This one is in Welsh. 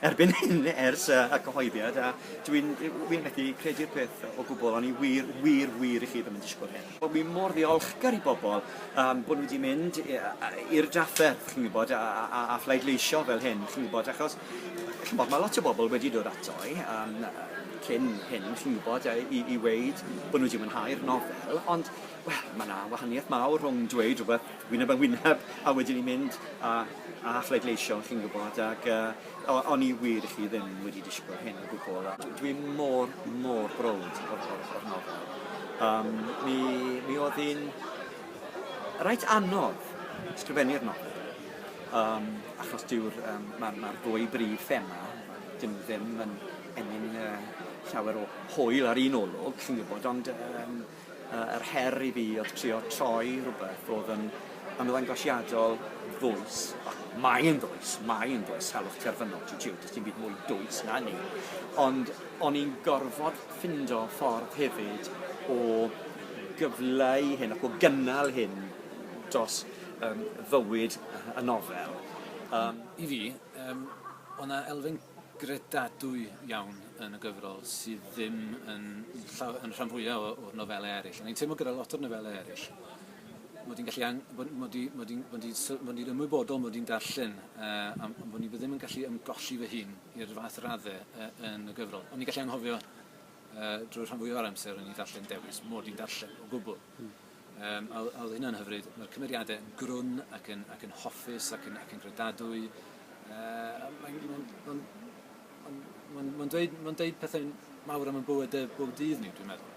Erbyn hyn, ers y cyhoeddiad, a dw i'n wir methu credu'r peth o gwbl, o'n i wir, wir, wir i chi ddim yn disgwyl hyn. O'n ni mor ddiolchgar i bobl um, bod nhw wedi mynd i'r drafferth, chi'n gwybod, a, a, a phleidleisio fel hyn, chi'n gwybod, achos chi'n gwybod, mae lot o bobl wedi dod ato i um, cyn hyn, chi'n gwybod, i, i weid bod nhw wedi mwynhau'r nofel, ond, wel, mae yna wahaniaeth mawr rhwng dweud rhywbeth wyneb yn wyneb a wedyn ni'n mynd a a phledleisio chi'n gwybod ac yy o- o'n i wir i chi ddim wedi disgwyl hyn o gwbl a dw- dwi mor mor browd o'r o'r o'r nofel. Yym mi mi o'dd hi'n reit anodd sgrifennu'r nofel yym achos dyw'r yym ma' ma'r ddwy brif thema dyn nw ddim yn ennyn yy llawer o hwyl ar un olwg chi'n gwybod ond yym Yy yr her i fi oedd trio troi rhywbeth oedd yn ymddangosiadol ddwys, ac mae e'n ddwys, mae e'n ddwys, salwch terfynol, ti jiw, does dim byd mwy dwys na 'ny, ond o'n i'n gorfod ffindo ffordd hefyd o gyfleu hyn ac o gynnal hyn dros yym fywyd y nofel. Yym. I fi yym o' 'na elfen gredadwy iawn yn y gyfrol sydd ddim yn, yn rhan fwyaf o'r nofelau eraill. Ond i'n teimlo gyda lot o'r nofelau eraill, mod i'n gallu ang... mod i'n mod i'n mod i'n mod i'n ymwybodol mod i'n darllen uh, am bod ni ddim yn gallu ymgolli fy hun i'r fath raddau uh, yn y gyfrol. Ond ni'n gallu anghofio uh, drwy rhan fwyaf o'r amser o'n i'n darllen dewis, mod i'n darllen o gwbl. Hmm. Yym, a oedd hynna'n hyfryd. Mae'r cymeriadau yn grwn ac yn, ac yn hoffus ac yn, ac yn gredadwy. Uh, mae'n ma ma ma ma dweud, ma dweud pethau mawr am y bywydau bob dydd ni, dwi'n meddwl.